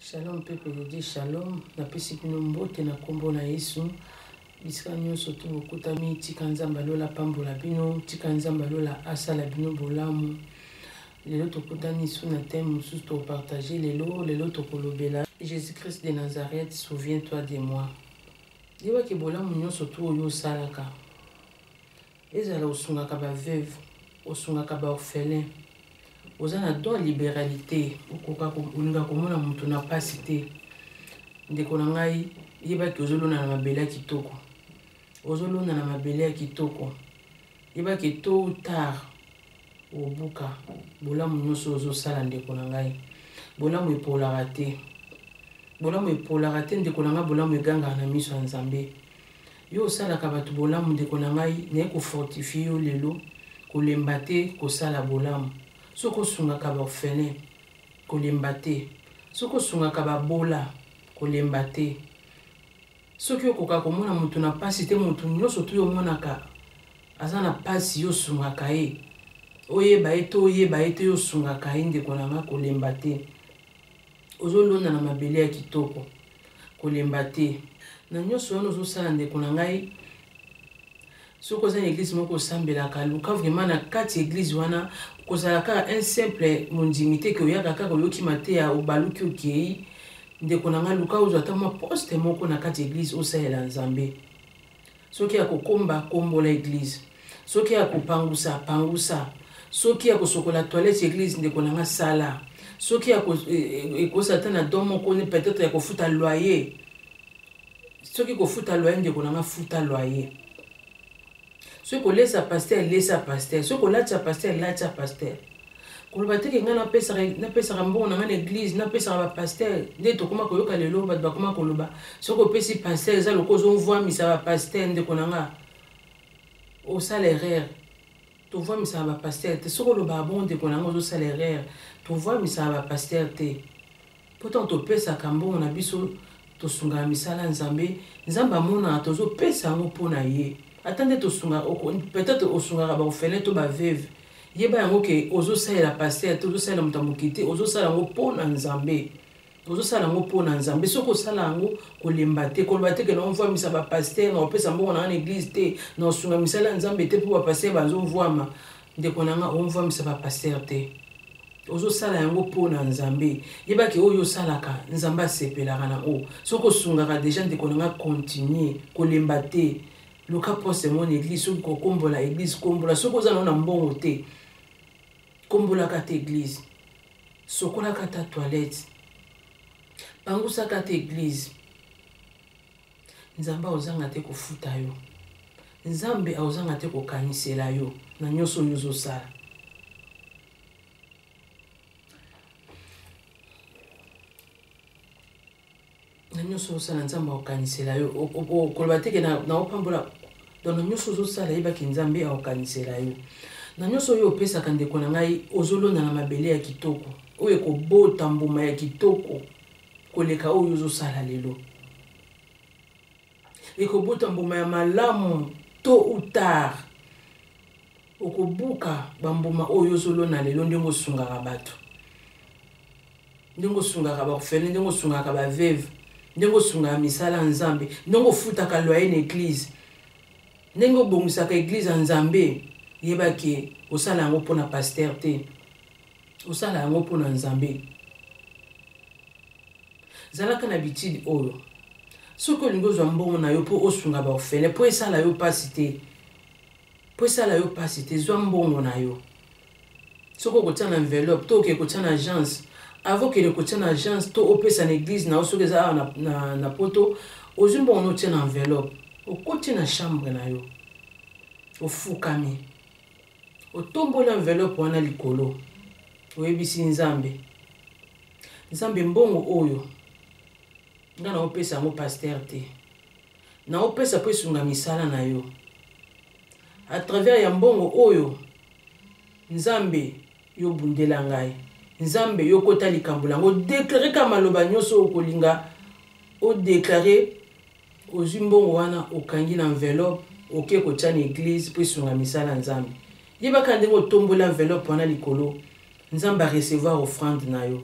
Shalom peuple de Dieu, shalom. Napesi bino mbote na kombo na Yesu. Bisika nyonso tu bokutami, tika Nzambe alola pambola bino, tika Nzambe alola asala bino bolamu. Lelo tokutani su na thème mosusu tokopartage lelo, lelo tokolobela Jésus-Christ de Nazareth, souviens-toi de moi. Yebaki bolamu nyonso tu oyo osalaka. ezala osungaka ba veuve osungaka ba orphelin oza na don liberalité okoka olinga komona moto na mpasi te ndeko na ngai yebaki ozolona na mabele ya kitoko ozolona na mabele ya kitoko yebaki tôt ou tard obuka bolamu nyonso ozosala ndeko na ngai bolamu epolaka te bolamu epolaka te ndeko na ngai bolamu egangaka na miso ya nzambe Yo osalaka bato bolamu ndeko na ngai, naye ko fortifier yo lelo, kolemba te kosala bolamu. Soki osungaka ba orphelins, kolemba te. Soki osungaka ba bola, kolemba te. Soki okokaka komona moto na pasi te, moto nyoso tu omonaka aza na pasi, yo osungaka ye. Oyeba ye to oyeba ye te, yo osungaka ye ndeko na ngai, kolemba te. Ozolona na mabele ya kitoko. kolemba te na nyonso wana ozosala ndeko na ngai soki oza na eglise moko osambelaka luka vraiment na kati eglise wana kozala kaka un simple mondimi te ke oyaka kaka oyoki mateya obaluki okei ndeko na ngai luka ozwa ata mwa poste moko na kati eglise osalela nzambe soki ya kokomba kombola eglise soki ya kopangusa pangusa soki ya kosokola toilette ya eglise ndeko na nga sala soki ya e, e, ekosa ata na don moko ne peut-être ya kofuta loyer soki kofuta loyer ndeko na nga futa loyer soki kolesa paster lesa paster soki kolatisa paster latisa paster koloba te ke ngai napesaka mbongo na ngai na eglize napesaka bapaster nde tokoma koyoka lelo bato bakoma koloba soki opesi paster eza lokola ozovwamisa bapaster ndeko na ngai osala erreur tovwamisaka bapaster te soki olobaka bongo ndeko na ngai ozosala erreur tovwamisaka bapaster te mpo ntango topesaka mbongo na biso tosungaka misala ya nzambe nzambe amonaka tozopesa yango mpo na ye ata nde tosungaka peut-être osungaka baofele to baveve yeba yango ke ozosalela paster te ozosalela moto ya moke te ozosala yango mpo na nzambe ozosala yango mpo na nzambe soki osala yango kolemba te koloba te ke naovwamisa bapaster naopesa mbongo na nga na eglize te naosunga misala ya nzambe te mpo bapaster bazovwama ndeko na nga omvwamisa bapaster te ozosala yango mpo na nzambe yeba ke oyo osalaka nzambe asepelaka na oyo soki osungaka deja ndeko na nga continue kolemba te luka poste mona eglise soki kokombola eglise kombola soki oza nao na mbongo te kombolaka te eglise sokolaka ta toilette pangusaka te eglise nzambe akozanga te kofuta yo nzambe akozanga te kokanisela yo na nyonso oyo ozosala na nyonso ozosala nzambe akokanisela yo koloba teke naopambola don na nyonso ozosala yebaki nzambe akokanisela yo na nyonso oyo opesaka ndeko na ngai ozolona na mabele ya kitoko oyo ekobota mbuma ya kitoko koleka oyo ozosala lelo ekobota mbuma ya malamu to ou tard okobuka bambuma oyo ozolona lelo ndenge osungaka bato ndenge osungaka baorfele ndenge osungaka baveve ndenge osungaka misala ya nzambe ndenge ofutaka loye na eglize ndenge obongisaka eglize ya nzambe yebaki osala yango mpo na paster te osala yango mpo na nzambe zalaka na bitidi oyo soki olingi ozwa mbongo na yo mpo osunga baofele mpo esala yo mpasi te mpo esala yo mpasi te zwa mbongo na yo soki okotya na enveloppe to okee kotya na agence avant okende kotya na agence to opesa na eglise na yo soki eza awa na, na, na poto ozwi mbongo na otya na enveloppe okoti na chambre na yo ofukami Otomboli enveloppe wana likolo, oyebisi Nzambe, Nzambe mbongo oyo nga naopesa yango pasteur te, naopesa mpo esunga misala na yo. A travers ya mbongo oyo, Nzambe yo bundela ngai, Nzambe yo kota likambo lango, odeklare ka maloba nyonso okolinga odeklare Ozwi mbongo wana okangi na enveloppe oke kotya na eglise mpo esunga misala ya Nzambe. Yebaka ndenge otomboli enveloppe wana likolo, Nzambe a recevoir offrande na yo.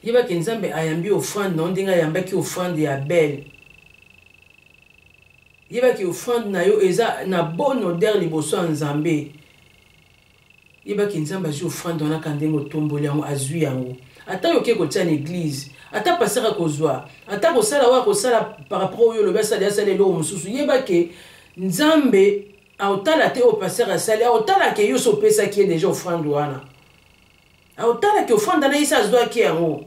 Yeba ke Nzambe ayambi offrande na yo ndenge ayambaki offrande ya Abel. Yeba ke offrande na yo eza na bon odeur liboso ya Nzambe. yeba ke nzambe azwi ofrande wana ka ndenge otomboli yango azwi yango ata yo oke kotia na eglize ata pasteur akozwa ata kosala oyo akosala par rapport oyo olobi asali asali eloko mosusu yeba ke nzambe aotala te oyo pasteur asali aotala ke yo so opesaki ye deja ofrande wana aotala ke ofrande na ye se azwaki yango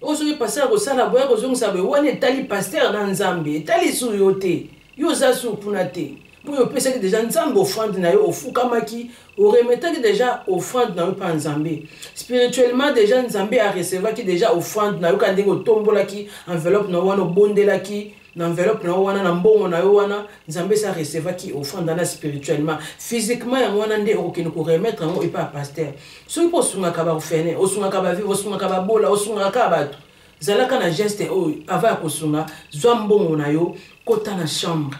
oyo soki paster akosala boya kozongisa boye wana etali paster na nzambe etali su yo te yo oza su kuna te mpo yo opesaki deja nzambe ofrande na yo ofukamaki oremetaki deja ofrande na yo mpa nzambe spirituellement deja nzambe arecevaki deja ofrande na yo kaka ndenge otombolaki enveloppe na yo wana obondelaki na enveloppe na yo wana na mbongo na yo wana nzambe esi arecevaki ofanda na spirituellement physiquement yango wana nde okokende koremettre yango epa ya paster soki mpo osungaka baorfene osungaka bavive osungaka babola osungaka kaka bato zalaka na geste oyo ava ya kosunga zwa mbongo na yo kota na chambre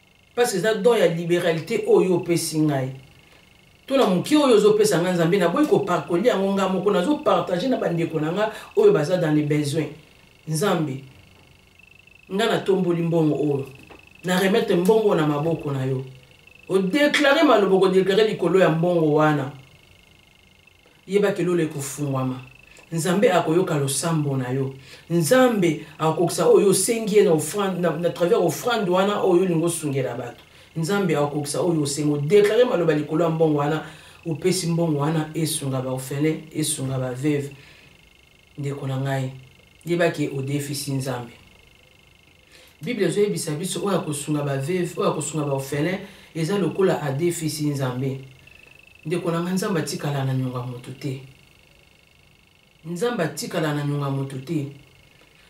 parce que eza don ya liberalité oyo opesi ngai to na moke oyo ozopesa ngai nzambe naboyi koparkoli yango ngai moko nazopartage na bandeko na ngai oyo baza dans le besoin nzambe ngai natomboli mbongo oyo na remettre mbongo na maboko na yo odeklare maloba okodeklare likolo ya mbongo wana Yeba ke lola ekofungwama. Nzambe akoyoka losambo na yo. Nzambe akokisa oyo osengi ye na offrande, na, na travers offrande wana oyo olingi osungela bato. Nzambe akokisa oyo osengi. Odeklare maloba likolo ya mbongo wana opesi mbongo wana esunga ba ofele, esunga ba veve. Ndeko na ngai, yeba ke odefisi Nzambe. Bible ezoyebisa biso oyo akosunga ba veuve, oyo akosunga ba orphelin eza lokola adefisi Nzambe. Ndeko na nga Nzambe atikala na nyonga moto te. Nzambe atikala na nyonga moto te.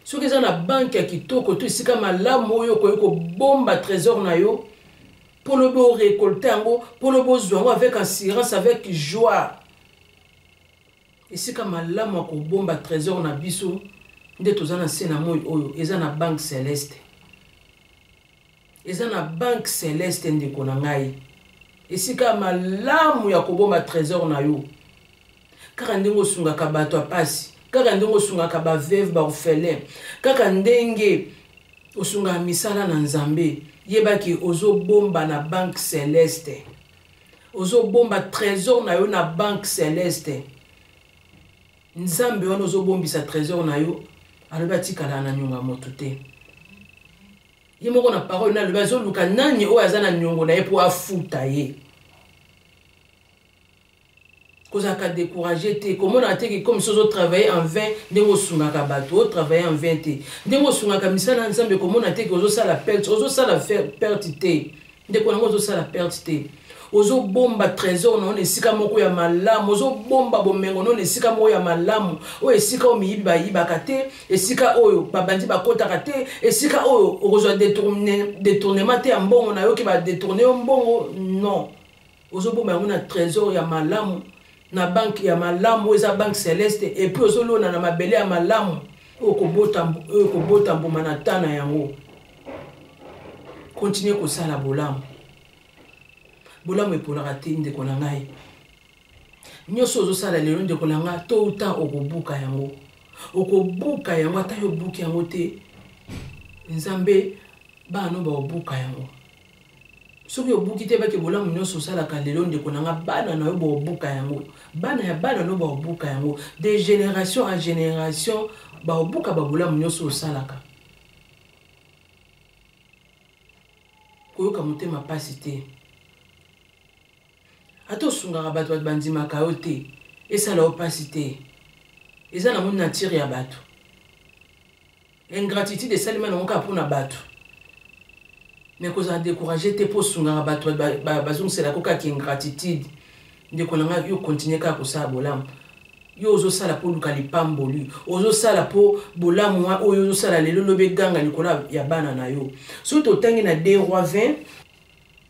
Soki eza na banki ya kitoko to esika malamu oyo okoki kobomba trésor na yo mpo lobi orekolte yango mpo lobi ozwa yango avec assurance avec joie Esika malamu ya kobomba tresor na biso nde toza na se na moi oyo eza na banque celeste eza na banque celeste ndeko na ngai esika malamu ya kobomba trésor na yo kaka ndenge osungaka bato ya mpasi kaka ndenge osungaka baveve baorphelin kaka ndenge osungaka misala na nzambe yebaki ozobomba na banque celeste ozo bomba trésor na yo na banque celeste nzambe wana ozo bombisa trésor na yo alobi atikala na nyonga moto te ye moko na parole nalobi azoluka nani oyo aza na nyongo na ye mpo afuta ye kozalaka découragé te komonaka te ke comme soki ozotravaille en vain ndenge osungaka bato otravaille en vain te ndenge osungaka misala ya nzambe komona te ke ozosala perte ozosala perte te ndeko yango ozosala perte te ozobomba trésor na yo na esika moko ya malamu ozobomba bomengo na yo na esika moko ya malamu oyo esika oyo miyibi bayibaka te esika oyo babandi bakotaka te esika oyo okozwa détournement te ya mbongo na yo ke badetourne yo mbongo non ozobomba yango na trésor ya malamu na banke ya malamu oyo eza banke celeste epuis ozolona na mabele ya malamu oyo okobota mbuma na ta na yango kontinue kosala bolamu bolamu eponaka te ndeko na ngai nyonso ozosala lelo ndeko na ngai to uta okobuka yango okobuka yango ata yo obuki yango te nzambe bana no bakobuka yango soki obuki te bake bolamu nyonso osalaka lelo ndeko na nga bana na yo baobuka yango bana ya bana no baobuka yango de génération à génération baobuka babolamu nyonso osalaka koyoka motema mpasi te ata osungaka bato bato bandimaka yo te esala yo mpasi te eza nango nature ya bato ingratitude esalema nango kaka mpo na bato me kozala décourage te mpo osungaka bato bazongiselaka kaka ingratitude ndeko na ngai yo continue kaka kosala bolamu yo ozosala mpo oluka lipamboli ozosala mpo bolamu oyo ozosala lelo lobi eganga likolo ya bana na yo soki totangi na 2 roi 20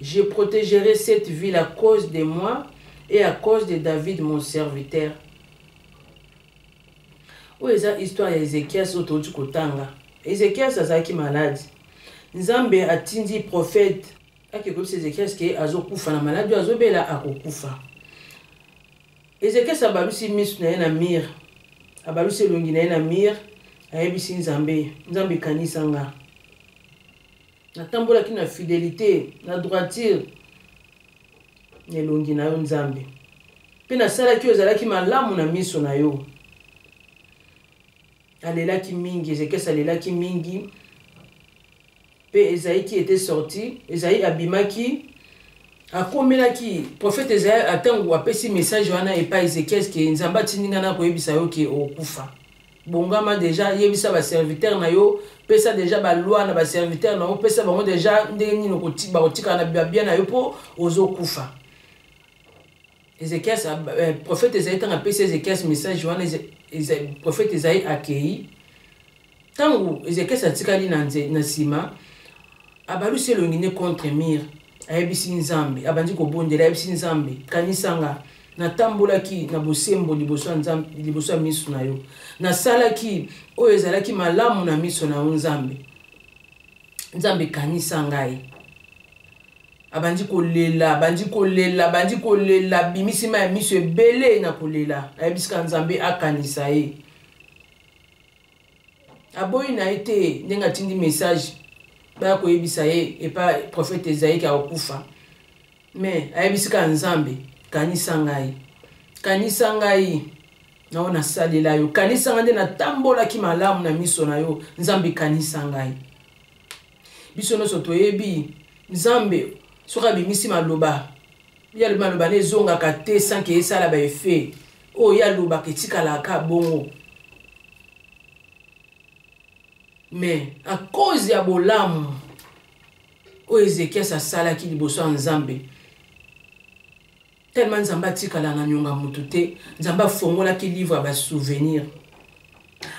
Je protegerai cette ville à cause de moi et à cause de David mon serviteur. Oyo eza histoire ya Ezekias oyo touti kotanga. Ezekias azalaki malade. Nzambe atindi prophète ake koyebisa Ezekias ke azokufa na malade oyo azobela akokufa. Ezekias abalusi miso na ye na mire, abalusi elongi na ye na mire, ayebisi Nzambe, Nzambe kanisa nga. natambolaki na fidelite na droitire na elongi na yo nzambe mpe nasalaki oyo ezalaki malamu na miso na yo alelaki mingi ezekesi alelaki mingi mpe ezaiki ete sorti ezai abimaki akomelaki profete ezai ntango apesi message wana epai ezekiel ke nzambe atindi ngai na koyebisa yo ke okufa bongama deja yebisa baserviteur na yo pesa deja baloi na baserviteur na yo pesa bango deja ndenge nini bakotikala na babia na yo mpo ozokufa ezekias eh, prophète ezali ntango apesi ezekias message wana prophète ezali akei ntango ezekias atikali na nsima abalusi elongi nde contre mire ayebisi nzambe abandi kobondela ayebisi nzambe kanisanga natambolaki na bosembo liboso ya nzambe liboso ya miso na yo nasalaki oyo ezalaki malamu na miso na yo nzambe nzambe kanisa ngai abandi kolela abandi kolela abandi kolela bimisi ma ya miso ebele na kolela nayebisika nzambe akanisa ye aboyi na ye te ndenge atindi message baya koyebisa ye epa prophète ezaike akokufa mais ayebisi kaka nzambe kanisa ngai kanisa ngai nao nasalela yo kanisa ngai nde natambolaki malamu na miso na yo nzambe kanisa ngai biso nyonso toyebi nzambe soki abimisi maloba ye alobi maloba na ezongaka te sanke esala baefe oyo ye alobaka etikalaka kaka bongo mais à cause ya bolamu oyo ezekias asalaki liboso ya nzambe tellement nzambe atikala na nyonga motu te nzambe afongolaki livre ya basouvenir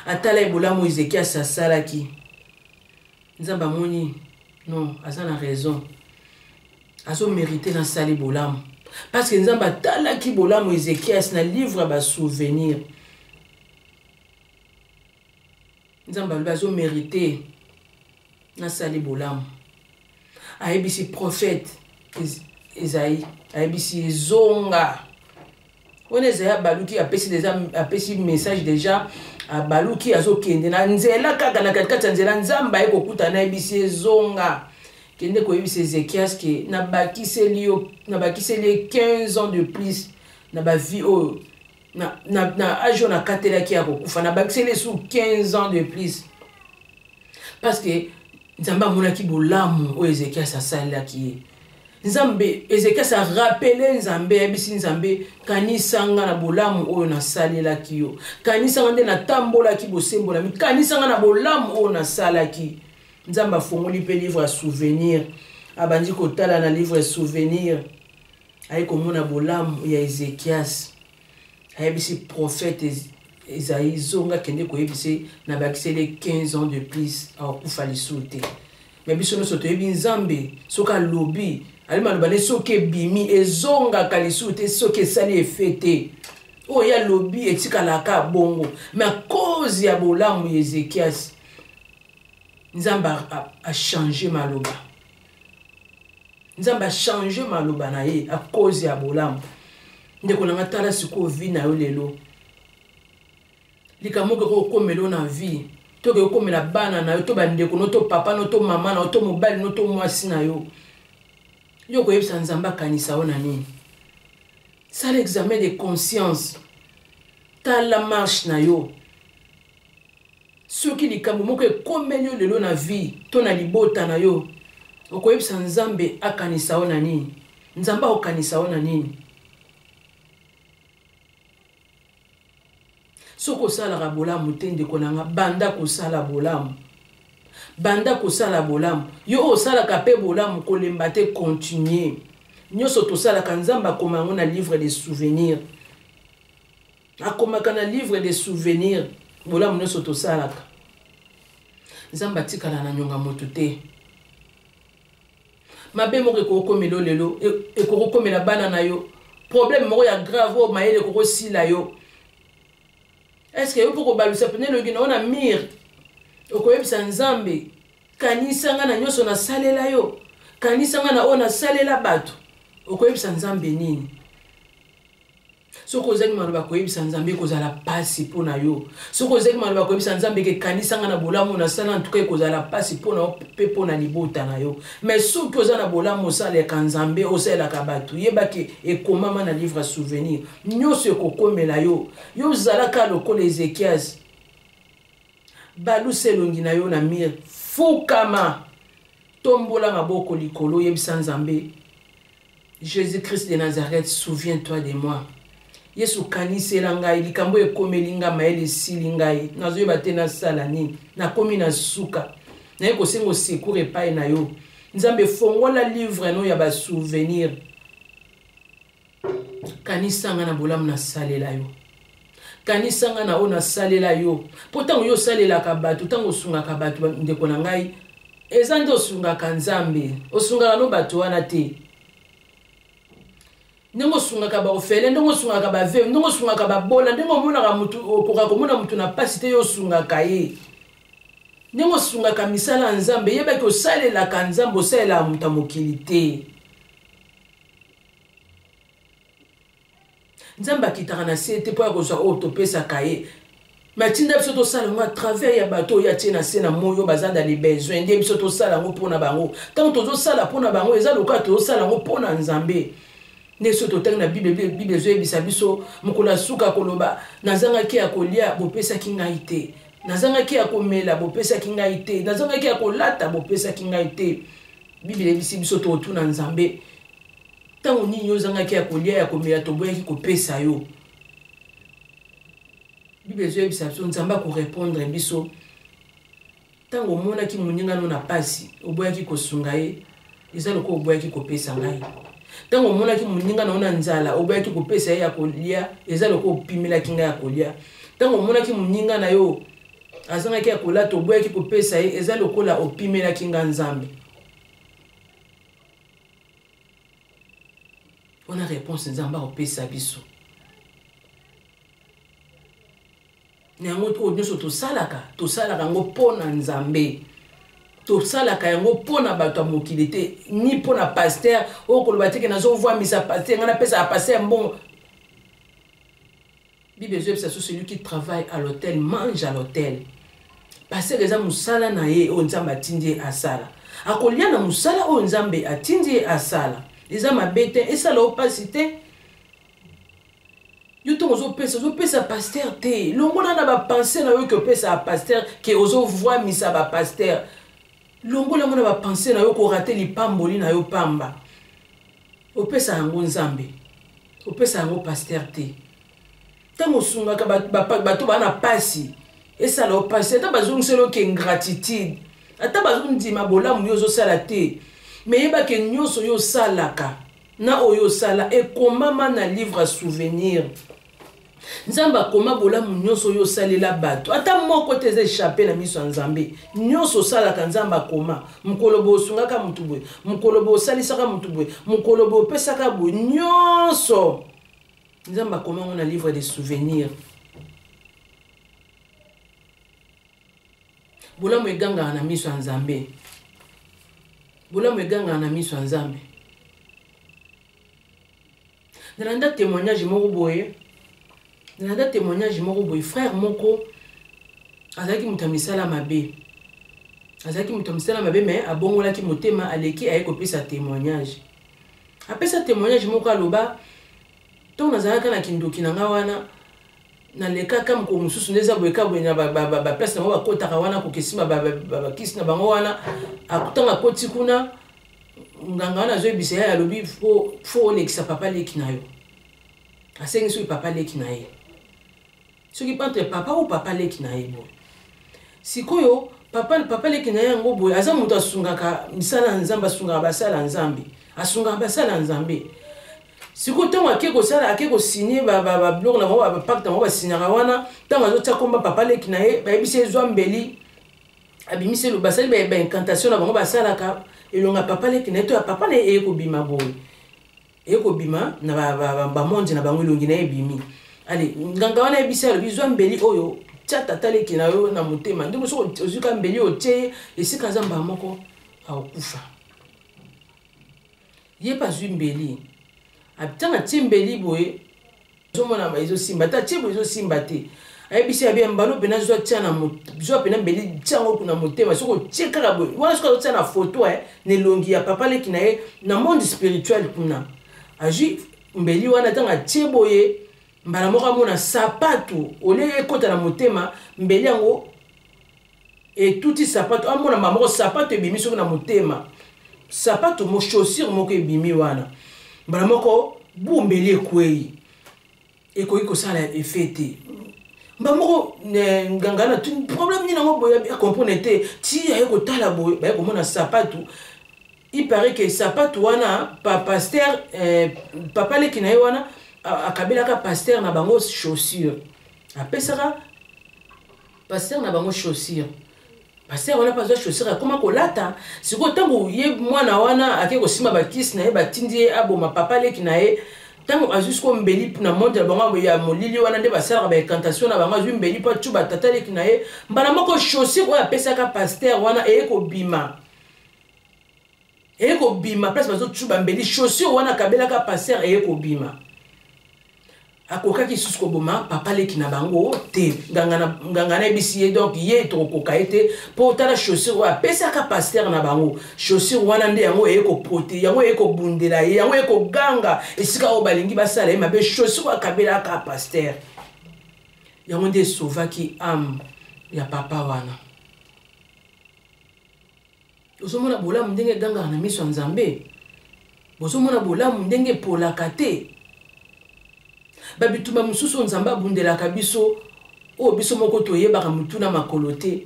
atala ye bolamu ezekias asalaki nzambe amoni non aza na raison azo merite na sali bolamu parce que nzambe atalaki bolamu ezekias na livre ya basouvenir nzambe alobi azo merite na sali bolamu ayebisi prophète ezai ayebisi ezonga wana eza ya baluki apesi deja apesi message deja ah, baluki azokende na nzela kaka na katikati ya nzela nzambe aye kokuta nayebisi ezonga kende koyebisa ezekias ke nabakiseli yo nabakiseli ye 15 ans de plus na bavie oyo na, na, na age oyo nakatelaki ya kokufa nabakiseli ye su 15 ans de plus parce que nzambe amonaki bolamu oyo ezekias asalelaki ye nzambe ezekias arapele nzambe ayebisi nzambe kanisa nga na bolamu oyo nasalelaki yo kanisa nga nde natambolaki bosembolami kanisa nga na bolamu oyo nasalaki nzambe afongoli mpe livre ya souvenir abandi kotala na livre ya souvenir aye komona bolamu ya ezekias ayebisi prophète ezali zonga kende koyebisa na bakisele 15 ans de plus akokufa lisusu te me biso nyonso toyebi nzambe soki alobi ali maloba nde soki ebimi ezongaka lisusu te soki esali efe te oyo ye alobi etikalaka bongo me akozi ya bolamu ya ezekiasi nzambe achange maloba nzambe achange maloba na ye akozi ya bolamu ndeko na nga tala sikoyo vi na yo lelo likambo okoki kokomela na vie tokoki kokomela bana na yo to bandeko no to papa no to mama na yo to mobali no to mwasi na yo yo koyebisa nzambe akanisa yo na nini sala examen de conscience tala marche na yo Soki likambo moko ekomeli yo lelo na vie to na libota na yo, okoyebisa Nzambe akanisa yo na nini? Nzambe akokanisa yo na nini? soki osalaka bolamu te ndeko na nga banda kosala bolamu banda kosala bolamu yo osalaka mpe bolamu kolemba te continue nyonso tosalaka nzambe akoma yango na livre de souvenir akomaka na livre de souvenir bolamu nyonso tosalaka nzambe atikala na nyonga moto te mabe moko ekokokomela yo lelo e, ekokokomela bana na yo problème moko ya grave oyo mayele ekokosila yo estce yo mpo kobalusa mpena eloki na yo na mire okoyebisa nzambe kanisa ngai na nyonso nasalela yo kanisa ngai na oyo nasalela bato okoyebisa nzambe nini soki ozangi maloba koyebisa nzambe ekozala mpasi mpo na yo soki ozangi maloba koyebisa nzambe ekekanisa nga na bolamu nasala ntuka ekozala mpasi mpo na yo mpe mpo na libota na yo mai soki oza na bolamu osalelaka nzambe osalelaka bato yebaki ekomama na livre ya souvenir nyonso ekokomela yo yo ozalaka lokola ezekiasi balusa elongi na yo na mire fukama tombola maboko likolo yebisa nzambe Jesus Christ de Nazareth, souviens-toi de moi. Yesu kanisela ngai likambo oyo ekomeli ngai mayele esili ngai nazoyeba te nasala nini nakomi na suka naye kosenga osecour epai na yo nzambe fongola livre no ya basouvenir kanisanga na bolamu nasalela yo kanisa ngai na oyo nasalela yo mpo ntango yo osalelaka bato ntango osungaka bato ndeko na ngai eza nde osungaka nzambe osungaka no bato wana te ndenge osungaka baofele ndenge osungaka baveve ndenge osungaka babola ndenge omonaka motu okoka komona motu na mpasi te yo osungaka ye ndenge osungaka misala ya nzambe yebaki osalelaka nzambe osalelaka moto ya mokili te nzambe akitaka na se te mpo ya kozwa oyo topesaka ye me atinda biso tosala yango atravers ya bato oyo atie na se na moi oyo baza na libesoin nde biso tosala yango mpo na bango ntango tozosala mpo na bango eza lokola tozosala yango mpo na nzambe nde soki totangi na bible bible ezoyebisa biso mokolo ya suka koloba nazangaki ya kolia bopesaki ngai te nazangaki ya komela bopesaki ngai te nazangaki ya kolata bopesaki ngai te bible eyebisi biso tokotuna nzambe ntango nini ozangaki ya kolia ya komela toboyaki kopesa yo bible ezoyebisa biso nzambe akorepondre biso ntango omonaki moninga no na mpasi oboyaki kosunga ye eza lokola oboyaki kopesa ngai ntango omonaki moninga na yo na nzala oboyaki kopesa ye ya kolia eza lokola opimelaki ngai ya kolia ntango omonaki moninga na yo azangaki ya kolata oboyaki kopesa ye eza lokola opimelaki ngai nzambe wana réponse nzambe akopesa biso na yango oyo nyonso tosalaka tosalaka yango mpo na nzambe tosalaka yango mpo na bato ya mokili te ni mpo na paster oyo koloba teke nazovwamisa paster ngai napesaka paster mbongo Bible ezoyebisa biso celui qui travaille à l'hôtel mange à l'hôtel. Paseke eza mosala na ye oyo Nzambe atindi ye asala. Akolia na mosala oyo Nzambe atindi ye asala. Eza mabe te, esala yo mpasi te. Yo ntango ozopesa, ozopesa pasteur te. Longola na bapense na yo ke opesaka pasteur, ke ozovwamisa bapasteur. Longola yango na bapense na yo korate lipamboli na yo pamba. Opesa yango Nzambe. Opesa yango pasteur te. Tango osungaka bato bana pasi esala opasi ata bazongiseli oke ingratitude ata bazondima bolamu yo ozosala te me yeba ke nyonso yo osalaka na oyo osala ekomama na livre ya souvenir nzambe akoma bolamu nyonso oyo osalela bato ata moko te eza echape na miso ya nzambe nyonso osalaka nzambe akoma mokolo boye osungaka motu boye mokolo boye osalisaka motu boye mokolo boye opesaka boye nyonso nzambe akoma yango na livre de souvenir bolamu egangaka na miso ya nzambe bolamu egangaka na miso ya nzambe nalanda témoignage moko boye nalanda témoignage moko boye frère moko azalaki moto ya misala mabe azalaki moto ya misala mabe me abongolaki motema aleki aye kopesa témoignage apesa témoignage moko aloba ntango nazalaka na kindoki na ngai wana nalekaka mokolo mosusu nde eza boye ka boye na baplace na bango bakotaka wana kokesima bakisi na bango wana ntango akoti kuna nganga wana azoyebisa ye alobi fo olekisa papa leki na yo asengi soki papa leki na ye soki entre papa ou papa leki na ye boye sikoyo papa papa leki na ye yango boye aza moto asungaka misala ya nzambe asungaka basala ya nzambe asungaka basala ya nzambe sikoyo ntango ake kosala ake kosigne babiloko na bango bapakte yango basignaka wana ntango azotia komba papa leki na ye bayebisi ezwa mbeli abimisi elo basali ba, ba incantation na bango basalaka elonga papa leki na ye to ya papa na ye eye kobima boye eye kobima na bamonde na bango elongi na ye ebimi ale nganga wana yebisi alobi zwa mbeli oyo tya tata leki na yo na motema ndenge soki ozwi ka mbeli oyo tye ye esika aza mbaa moko akokufa ye mpe azwi mbeli ntango atye mbeli boye ezomona ba ezosimba ata chebo ezosimba te ayebisi ya bien mbano mpena zwa tya na zwa mpena mbeli tya yango kuna motema soki otye kaka boye wana soki azotya na foto eh, na elongi ya papa leki na ye na monde spirituel kuna azwi mbeli wana ntango atye boye mbala moko amona sapatu olie ekota na motema mbeli yango etuti sapato amona mama moko sapato ebimi soki na motema sapato mo chaussure moko ebimi wana mbala moko bumbeli ekwei ekoki kosala efe te mbala moko nganga na tuni problème nini yango boye acomprene te ti aye kotala boye baye komona sapato il paraît ke sapato wana pa paster eh, papa leki na ye wana akabelaka paster na bango chaussure apesaka pasteur na bango chaussure pasteur wana mpe azwa chaussure akoma kolata sikoyo ntango ye mwana wana ake kosimba bakisi na ye batindi ye aboma papa leki na ye ntango azwi sikoyo mbeli na monde na bango ya molili wana nde basalaka baincantation na bango azwi mbeli mpo acuba tata leki na ye mbala moko chaussure oyo apesaka pasteur wana eye kobima eye kobima place bazocuba mbeli chaussure wana akabelaka passer eye kobima akokaki lisusu koboma papa leki na bango te nganga nayebisi ye donc ye tokokoka ye te mpo tala chaussure oyo apesaka pastere na bango chaussure wana nde yango eye koprote yango eye kobundela ye yango eye koganga esika oyo balingi basala ye mabe chaussure oyo akabelaka pastere yango nde esauvaki ame ya papa wana Ozomona bolamu ndenge egangaka na miso ya Nzambe? Bozomona bolamu ndenge epolaka te? Babitumba mosusu Nzambe abundelaka biso oyo biso moko toyebaka motu na makolo te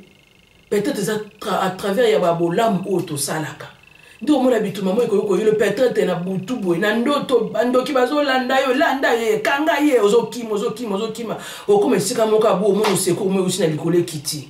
peut-être eza à travers ya babolamu oyo tosalaka nde omona bitumba moi ekoki koyilo peut-être na butu boye na ndoto bandoki bazolanda yo landa ye kanga ye ozokima ozokima ozokima okoma esika moko abu omona osekour moi eusi na likolo ekiti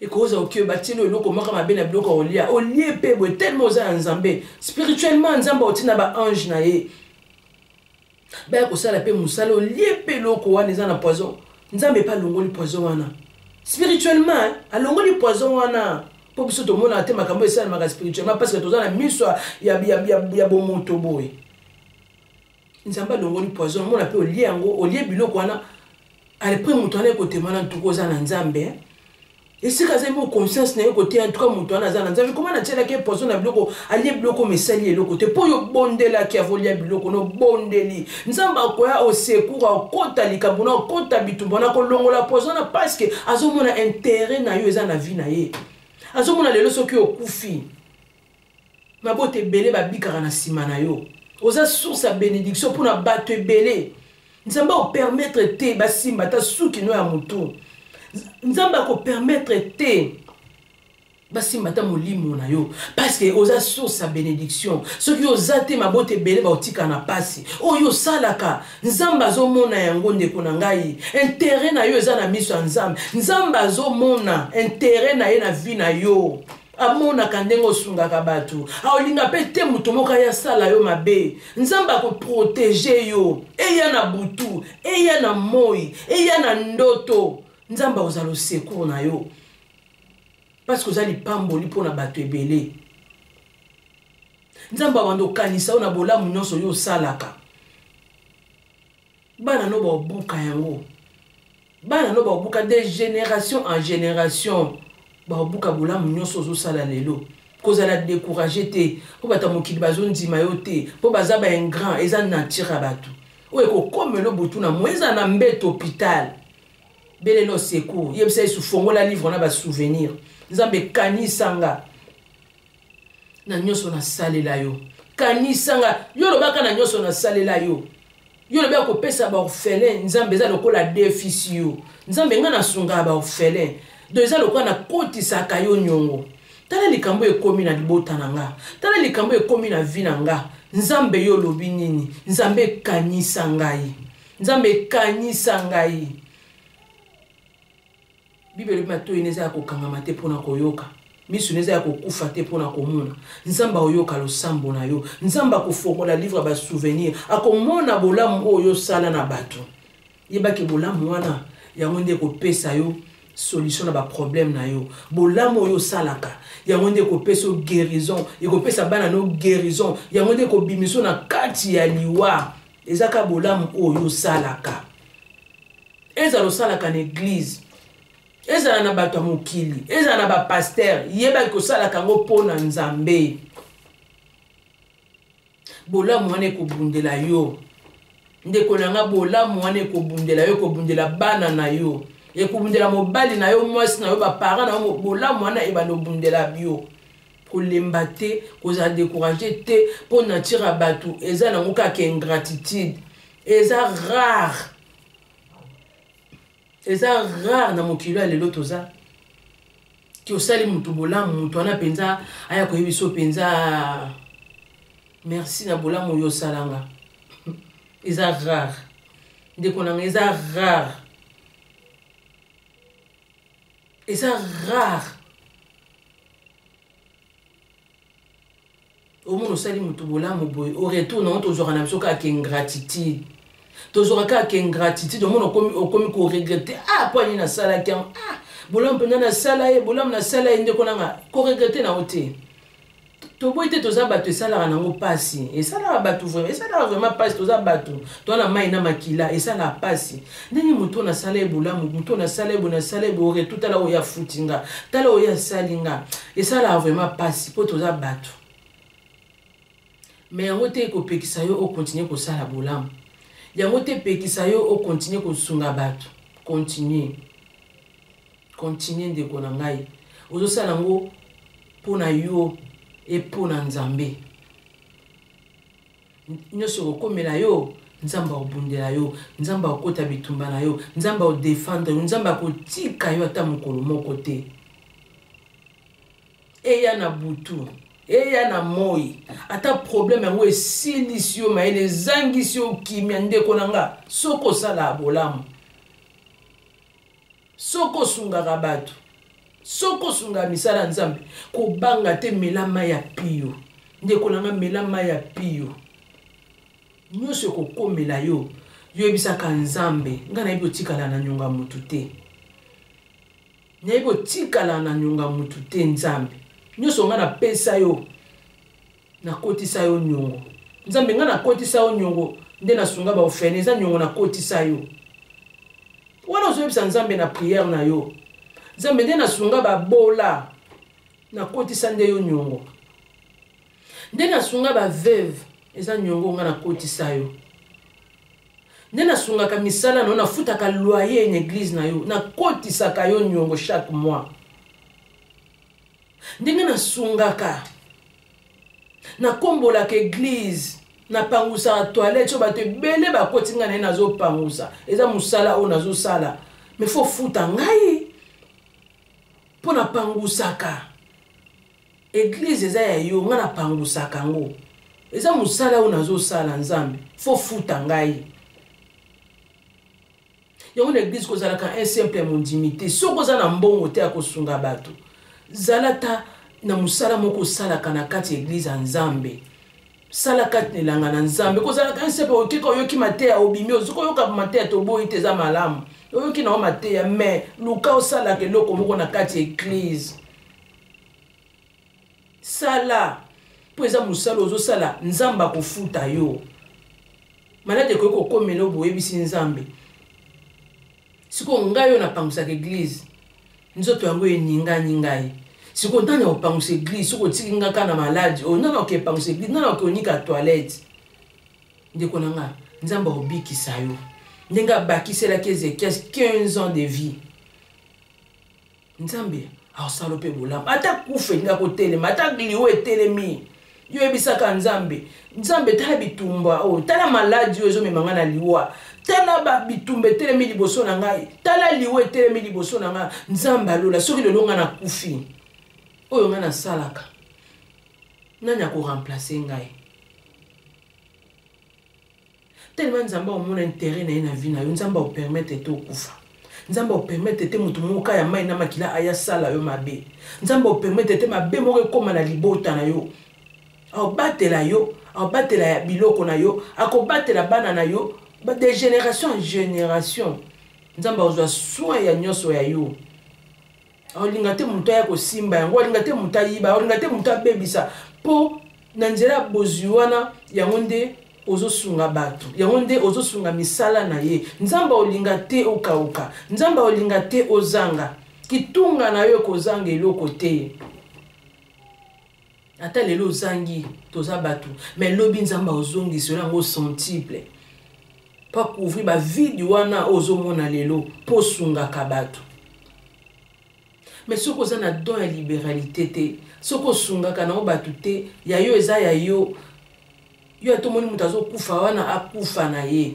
ekoza oke batino eloko moko mabe na biloko olia olie mpe boye telema oza ya nzambe spirituellement nzambe otina baange na ye baya kosala mpe mosala olie mpe eloko wana eza na poison nzambe mpe alongoli poison wana spirituellement alongoli poison wana mpo biso tomonaka te makambo esalemaka spirituellement parce que toza na miso ya bomoto boye nzambe alongoli poison omona mpe olie yango olie biloko wana alpres moto wana ekotema na ntuku oza na nzambe eh? esika azali mpo conscience na ye koteya ntuka moto wana aza na nzambe koma natyelaki ye poison na biloko alie biloko oyo esali eloko te mpo oyo obondelaki avolia biloko na obondeli nzambe akoya osekour akota likambo na akota bitumba na kolongola poison na parceke azomona intere na yo eza na vi na ye azomona lelo soki okufi mabota ebele babikaka na nsima na yo oza source ya benediction mpo na bato ebele nzambe akopermettre te basimba ata suki no ya motu nzambe akopermettre te basimba ata molimo na yo parceke oza source ya benediction soki oza te mabota ebele baotika na mpasi oyo osalaka nzambe azomona yango ndeko na ngai intere na yo eza na miso ya nzambe nzambe azomona intere na ye na vi na yo oh, amonaka ndenge osungaka bato aolinga mpe te moto moko aya asala yo mabe nzambe akoprotege yo eya na butu eya na moi eya na ndoto nzambe akozala osecour na yo parceke oza lipamboli mpo na bato ebele nzambe abanda okanisa yo na bolamu nyonso yo osalaka bana no baobuka yango bana no baobuka de génération en génération baobuka bolamu nyonso ozosala lelo kozala décourage te mpo bato ya mokili bazondima yo te mpo baza baingrand eza nature ya bato oyo ekokomelo butu na moi ezala na mbeto hôpital belelo secour yebisa yesu fongola livre na basouvenir nzambe kanisa nga na nyonso nasalela yo kanisa nga yo olobaka na nyonso nasalela yo yo olobi akopesa baorphelin nzambe eza lokola defisi yo nzambe ngai nasungaka baorphelin do eza lokola nakotisaka yo nyongo tala likambo ekomi na libota na nga tala likambo ekomi na vi na nga nzambe yo olobi nini nzambe ekanisa ngai nzambe ekanisa ngai Biblia elobi matoi na eza ya kokangama te mpo na koyoka miso na eza ya kokufa te mpo na komona nzambe akoyoka losambo na yo nzambe akofongola livre ya basouvenir akomona bolamu oyo osala na bato yebaki bolamu wana yango nde ekopesa yo solution na baproblème na yo bolamu oyo osalaka yango nde ekopesa yo guérison ekopesa bana no guérison yango nde ekobimiso na kati ya liwa ezaka bolamu oyo osalaka ezala osalaka na eglize ezala na bato ya mokili ezala na bapaster yebaki kosalaka yango mpo na nzambe bolamu wana ekobundela yo ndeko na nga bolamu wana ekobundela yo ekobundela bana na yo ekobundela mobali na yo mwasi na yo baparent na yo bolamu wana ebanda obundela yo kolemba te kozala decourage te mpo nature ya bato eza nango kaka ingratitude eza rare eza rare na mokili ya lelo toza ti osali motu bolamu motu wana mpenza aya koyebi so mpenza merci na bolamu oyo osalanga eza rare ndeko nanga eza rare eza rare omona osali moto bolamu boye au retour nango tozwaka na biso kaka kingratitude tozwaka kaka kingratitude omona okomi koregrete ah mpo ani nasalaki yango ah bolamu mpenza nasala ye bolamu nasala ye ndeko nanga koregrete nango te toboyi te toza bato esalaka nango mpasi esalaka bato vraimen esalaka vraimen mpasi toza bato toza na mai na makila esalaka mpasi ndenge moto oyo nasala ye bolamu moto oyo nasala ye boye nasala ye boye retu tala oyo afuti nga tala oyo asali nga esalaka vraiment mpasi mpo toza bato me yango te ekopekisa yo okontinue kosala bolamu yango te epekisa yo okontinue kosunga bato continue continue ndeko na ngai ozosala yango mpo na yo epo na nzambe nyonso ekokomela yo nzambe akobundela yo nzambe akokota bitumba na yo nzambe akodefendre yo nzambe akotika yo ata mokolo moko te eya na butu eya na moi ata probleme yango esilisi yo mayele ezangisi yo kimia ndeko na nga soki osala bolamu Soki osungaka bato, soki osungaka misala ya Nzambe, kobanga te, mela mai ya pio. Ndeko na ngai, mela mai ya pio. Nyonso ekokomela yo, yebisaka Nzambe, ngai nayebi otikala na nyonga motu te. Nayebi otikala na nyonga motu te, Nzambe. Nyonso ngai napesa yo, Na kotisa yo niongo. Nzambe nga na kotisa yo niongo nde na sunga ba ofene eza niongo na kotisa yo. Wana ozo yebisa Nzambe na prière na yo. Nzambe nde na sunga ba bola na kotisa nde yo niongo. Nde na sunga ba veuve eza niongo nga na kotisa yo. nde nasungaka misala na yo nafutaka loyer na eglize na yo nakotisaka yo niongo chaque mois ndenge nasungaka nakombolaka eglize napangusaka toilette oyo bato ebele bakoti ngai na ye nazopangusa eza mosala oyo nazosala me fo futa ngai mpo napangusaka eglize eza ya yo ngai napangusaka yango eza mosala oyo nazosala nzambe fo futa ngai yango na eglise kozalaka un simple ya mondimi te soki oza na mbongo te ya kosunga bato zala ta na mosala moko osalaka na kati ya eglise ya nzambe sala kati na elanga na nzambe kozalaka un simple okeka oyoki mateya obimi ozoki oyoka mateya toboyi te eza malamu oyoki na yo mateya mais luka osalaka eloko moko na kati ya eglise sala mpo eza mosala ozosala nzambe akofuta yo maladi ekoki kokomela oyo boyebisi nzambe sikoyo ngai oyo napangusaka eglize nzoto yango eningani ngai sikoyo ntango ya kopangusa eglize soki otiki nga kaka na maladi oyo nana oke epangusa eglize nana oke onika toilette ndeko na nga nzambe akobikisa yo ndenge abakiselaki ezekias 15 ans de vie nzambe akosala mpe bolamu ata kufa elingi akotelema ata liwa etelemi yo oyebisaka nzambe nzambe tala bitumba oyo oh, tala maladi oyo ezomema ngai na liwa tala bitumba etelemi liboso na ngai tala liwa etelemi liboso na ngai nzambe alola soki lelo ngai nakufi oyo ngai nasalaka nani akoremplace ngai Tellement Nzambe omona intérêt na ye na vie na yo, Nzambe o permettre te okufa. Nzambe o permettre te moto moko ya mai na makila aya sala yo mabe. Nzambe o permettre te mabe moko ekoma na libota na yo. Aobatela yo, aobatela ya biloko na yo, akobatela bana na yo de génération en génération. Nzambe azwa soin ya nyonso ya yo. olinga te moto aya kosimba yango olinga te moto ayiba olinga te moto abebisa mpo na nzela ya bozwi wana yango nde ozosunga bato yango nde ozosunga misala na ye nzambe olinga te okauka nzambe olinga te ozanga kitunga na yo ekozanga eloko te ata lelo ozangi toza bato mais lobi nzambe aozongisa oyo yango sentible mpo akouvri bavide wana oyo ozomona lelo mpo osungaka bato mais soki oza na don ya liberalité te soki osungaka nango bato te ya yo eza ya yo yo ata omoni moto azokufa wana akufa na ye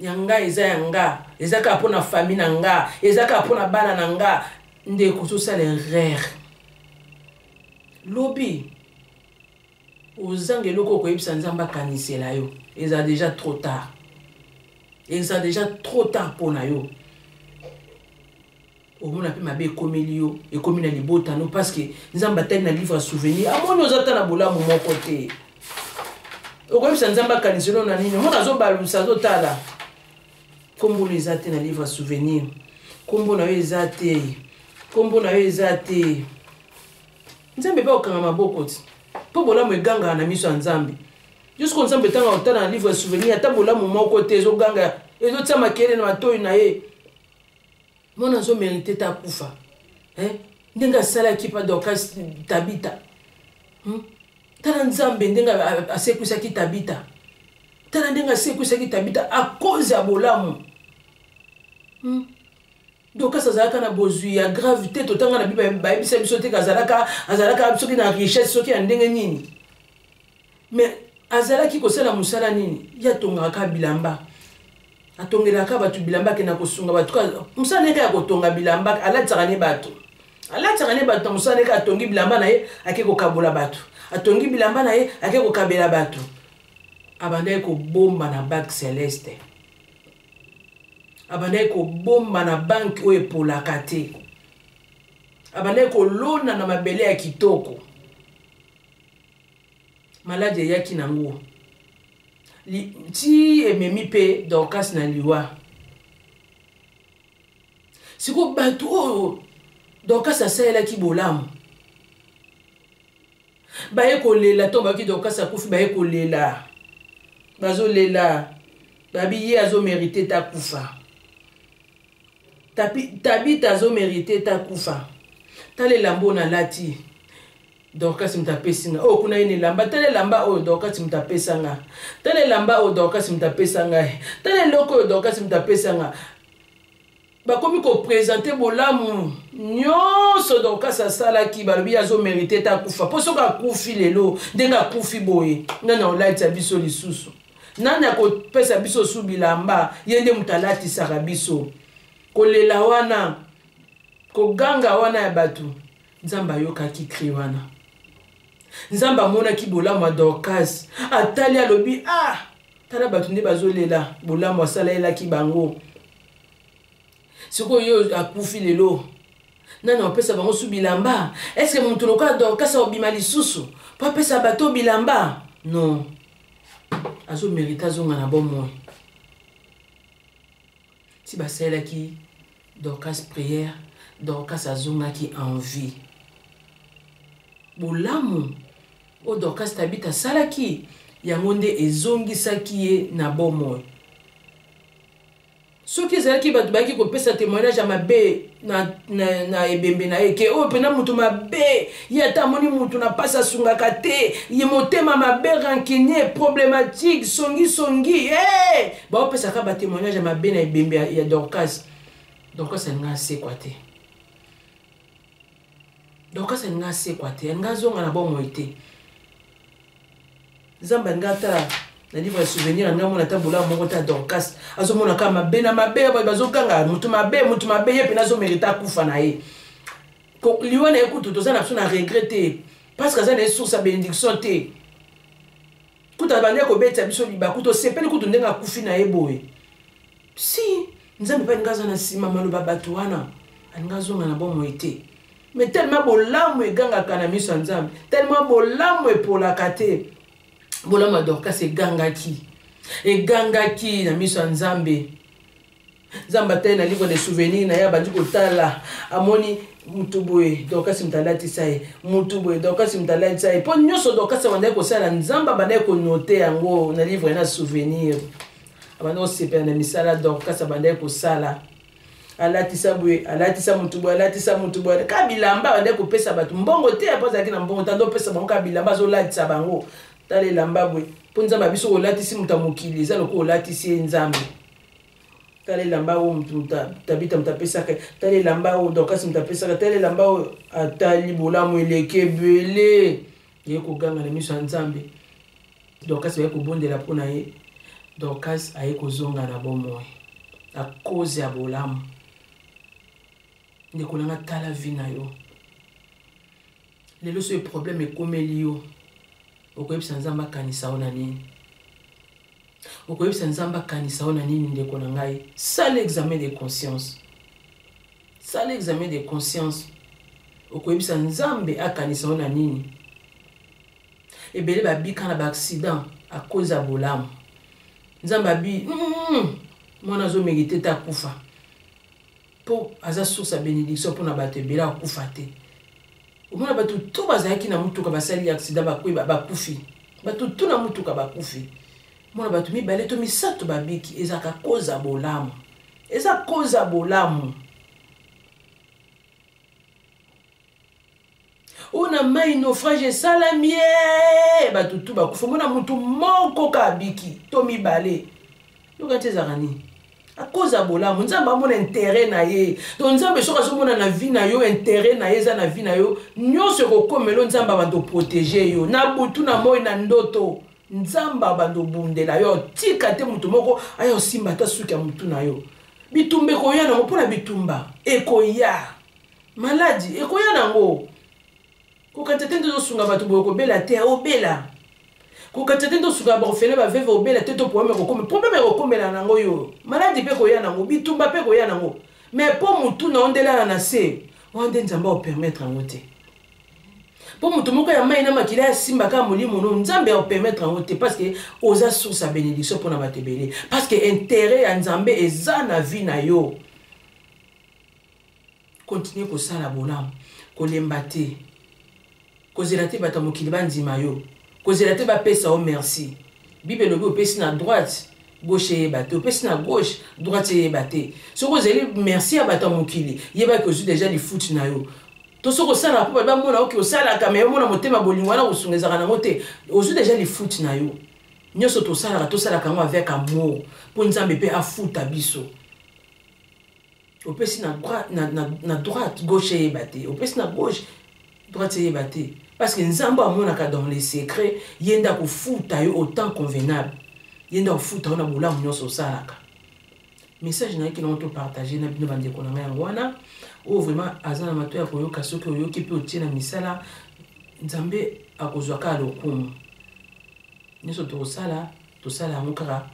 ya nga eza ya nga eza kaka mpo na fami na nga eza kaka mpo na bana na nga ndeko tosala erreur lobi ozanga eloko okoyebisa nzambe akanisela yo eza deja trop tard eza deja trop tard mpo na yo omona mpe mabe ekomeli yo ekomi na libota no parce que nzambe atali na livre ya souvenir amoni oza ata na bolamu moko te okoyebisa nzambe akanisi no na nini omona azobalusa azotala nkombo no eza te na livre ya souvenir nkombo na yo eza te nkombo na yo eza te nzambe mpe okanga maboko ti mpo bolamu egangaka na miso ya nzambe jusko nzambe ntango akotala na livre ya souvenir ata bolamu moko te ezoganga ezotia makelele na matoi na ye mwana azo merite te akufa eh? ndenge asalaki pa dorcas tabita hmm? tala nzambe ndenge asekwisaki tabita tala ndenge asekwisaki tabita akoze ya bolamu hmm? dokas azalaka na bozwi ya grave te totanga na bible bayebisa biso te azalaka azalaka soki na richesse soki ya ndenge nini mais azalaki kosala mosala nini ye atongaka kaka bilamba atongelaka bato bilamba akenda kosunga bato mosala na ye kaka ya kotonga bilamba alatisaka ne bato alatisaka ne bato na mosala na ye kaka atongi bilamba na ye ake kokabola bato atongi bilamba na ye ake kokabela bato abandaki kobomba na bak celeste abandaki kobomba na banki oyo epolaka te abandaki kolona na mabele ya kitoko maladi eyaki nango ti ememi mpe dorcas na liwa sikoyo bato oyo dorcas asalelaki bolamu baye kolela ntango bayoki dorcas akufi baye kolela bazolela babi ye azomerite takufa tabita azomerite takufa talela mbo nalati dorkasi moto apesi nga oyo oh, kuna ye na elamba tala elamba oyo dorkasi moto apesa nga tala elamba oyo dorkasi moto apesa nga tala eloko oyo dorkasi moto apesa nga bakomi kopresente bolamu nyonso dorkasi asalaki balobi ye azomerite te akufa mpo soki akufi lelo ndenge akufi boye nani akolatisa biso lisusu nani akopesa biso su bilamba ye nde moto alatisaka biso kolela wana koganga wana ya bato nzambe ayokaki cri wana nzambe amonaki bolamu ya dorcas atali alobi ah tala bato nde bazolela bolamu asalalelaki bango sikoyo yo akufi lelo nani apesa bango su bilamba eske moto lokola dorcas akobima lisusu mpo apesa bato bilamba non azomerite azonga na bomoi ti basalelaki dorcas prière dorcas azongaki en vie bolamu oyo dorcas tabita asalaki yango nde ezongisaki ye na bomoi soki ezalaki bato bayaki kopesa témoignage ya mabe na, na, na ebembe na ye ke oyo mpena moto mabe ye ata amoni moto na mpasi asungaka te ye motema mabe rancunier problématique songisongi hey! Eh! baopesaka batémoignage ya mabe na ebembe ya, ya dorcas dorcas alinga asekwa te dorcas alinga asekwa te alinga azonga na bomoi te nzambe alingi ata na livre ya souvenir alingi amona ata bolaa moko te ya dorcas azomona kaka mabe na mabe baye bazoganga motu mabe motu mabe ye mpena azomerita akufa na ye liwa na ye kutu toza na biso na regret te parce que aza na ye source ya bénédiction te kutu abandi akobetisa biso libaku tosepeli kutu ndenge akufi na ye boye si nzambe mpe alingi aza na nsima maloba bato wana alingi azonga na bomoi te mais tellement bolamu egangaka na miso ya nzambe tellement bolamu epolaka te bolamu ya dorkas egangaki egangaki na miso ya nzambe nzambe atali na livre de souvenir na ye abandi kotala amoni mutu boye dorkas moto alatisa ye mutu boye dorkas moto alatisa ye mpo nyonso dorkas abandaki kosala nzambe abandaki konote yango na livre na souvenir abandaki kosepela na misala dorkas abandaki kosala alatisa boye alatisa motu boye alatisa motu boye ka bilamba bande kopesa bato mbongo te apo azalaki na mbongo tando opesa bango ka bilamba azolatisa bango tala elamba boye mpo nzambe abiso olatisi moto ya mokili eza lokola olatisi ye nzambe tala elamba oyo motu tabita moto apesaka tala elamba oyo dorkasi moto apesaka tala elamba oyo atali bolamu eleki ebele ye koganga na miso ya nzambe dorcas baye kobondela mpo na ye dorcas aye kozonga na bomoi na koze ya bolamu ndeko nanga tala vi na yo lelo soki problème ekomeli yo okoyebisa nzambe akanisa yo na nini okoyebisa nzambe akanisa yo na nini ndeko na ngai sala examen de conscience sala examen de conscience okoyebisa nzambe akanisa yo na nini ebele babika na baaccident akoza bolamu nzambe abi mm, mwana azomegite te akufa mpo aza source ya benediction mpo na bato ebele akufa te omona bato to bazalaki na motuka basali accident bakwe bakufi bato to na motuka bakufi mona bato mibale to misato babiki ezalaka koza bolamu eza koza bolamu oyo na mai naufrage esalami ye bato tu bakufa mona motu moko ka abiki to mibale yoka ti ezalaka nini akoze ya bolamu nzambe amona intere na ye to nzambe soki azomona na vi na yo intere na ye eza na vi na yo nyonso ekokomelo nzambe abanda oprotege yo na butu na moi na ndoto nzambe abanda obundela yo otika te moto moko aya osimba ata suki ya motu na yo bitumba ekoya nango mpo na bitumba ekoya maladi ekoya nango kokata te nde tosunga bato boye kobela te obela kokata te nde tosunga baofele baveve obela te to problème ekokoma problème ekokomela nango yo maladi mpe koya nango bitumba mpe koya nango mais mpo motu na yo nde elala na se wana nde nzambe aopermettre yango te mpo moto moko ya mai na makila ya simba kaka molimo no nzambe aopermettre yango te parce que oza source ya bénédiction mpo na bato ebele parce que intérêt ya nzambe eza na vie na yo Continue kosala bolamu, kolemba te, kozela te bato ya mokili bandima yo, kozela te bapesa yo merci. Bible elobi opesi na droite, gauche eyeba te, opesi na gauche, droite eyeba te. Soki ozeli merci ya bato ya mokili, yeba ke ozwi deja lifuti na yo. To soki osalaka mpo bato bamona yo ke osalaka, me omona motema bolingo wana kosunga ezalaka nango te, ozwi deja lifuti na yo. Nyonso tosalaka, tosalaka yango avec amour, mpo Nzambe mpe afuta biso. opesi na, na, na, na droite gauche eyeba te opesi na gauche droite eyeba te parce que nzambe amonaka dans les secrets ye nde akofuta yo au temps convenable ye nde akofuta yo na bolamu nyonso osalaka message nayaki nango topartage na bino bandeko na ngai yango wana oyo vraiment aza na mato ya koyoka soki oyoki mpe otie na misala nzambe akozwa kaka lokumu nyonso tokosala tosala yango kaka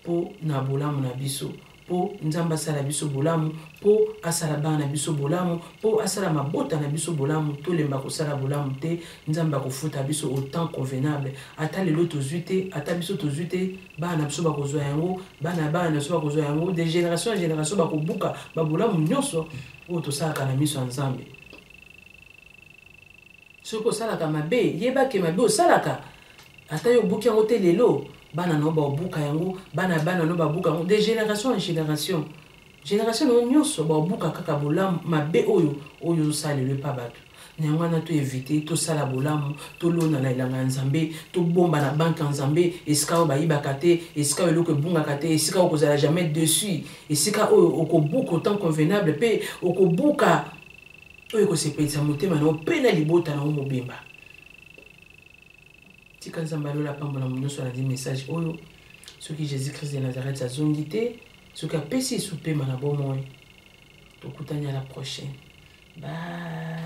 mpo na bolamu na biso, mpo Nzambe asala biso bolamu, mpo asala bana na biso bolamu, mpo asala mabota na biso bolamu. Tolemba kosala bolamu te, Nzambe akofuta biso au temps convenable. Ata lelo tozwi te, ata biso tozwi te, bana na biso bakozwa yango, bana ya bana na biso bakozwa yango, de generation en generation bakobuka babolamu nyonso oyo tosalaka na miso ya Nzambe. soki osalaka mabe yeba ke mabe osalaka ata yo obuki yango te lelo bana na yo baobuka yango bana ya bana na yo babuka yango de génération en génération génération na yo nyonso baobuka kaka bolamu mabe oyo oyo ozosalelo epa bato na yango wana toevite tosala bolamu tolona na elanga ya nzambe tobomba na banke ya nzambe esika oyo bayibaka te esika oyo eloko ebungaka te esika oyo okozala jamais dessus esika oyo okobuka autant convenable mpe okobuka oyo ekosepelisa motema na yo mpe na libota na yo mobimba tika nzambe alola apambola mo nyonso alandi message oyo soki jésus christ de nazareth azongi te soki apesi esu mpema na bomoi tokutani à la prochaine bye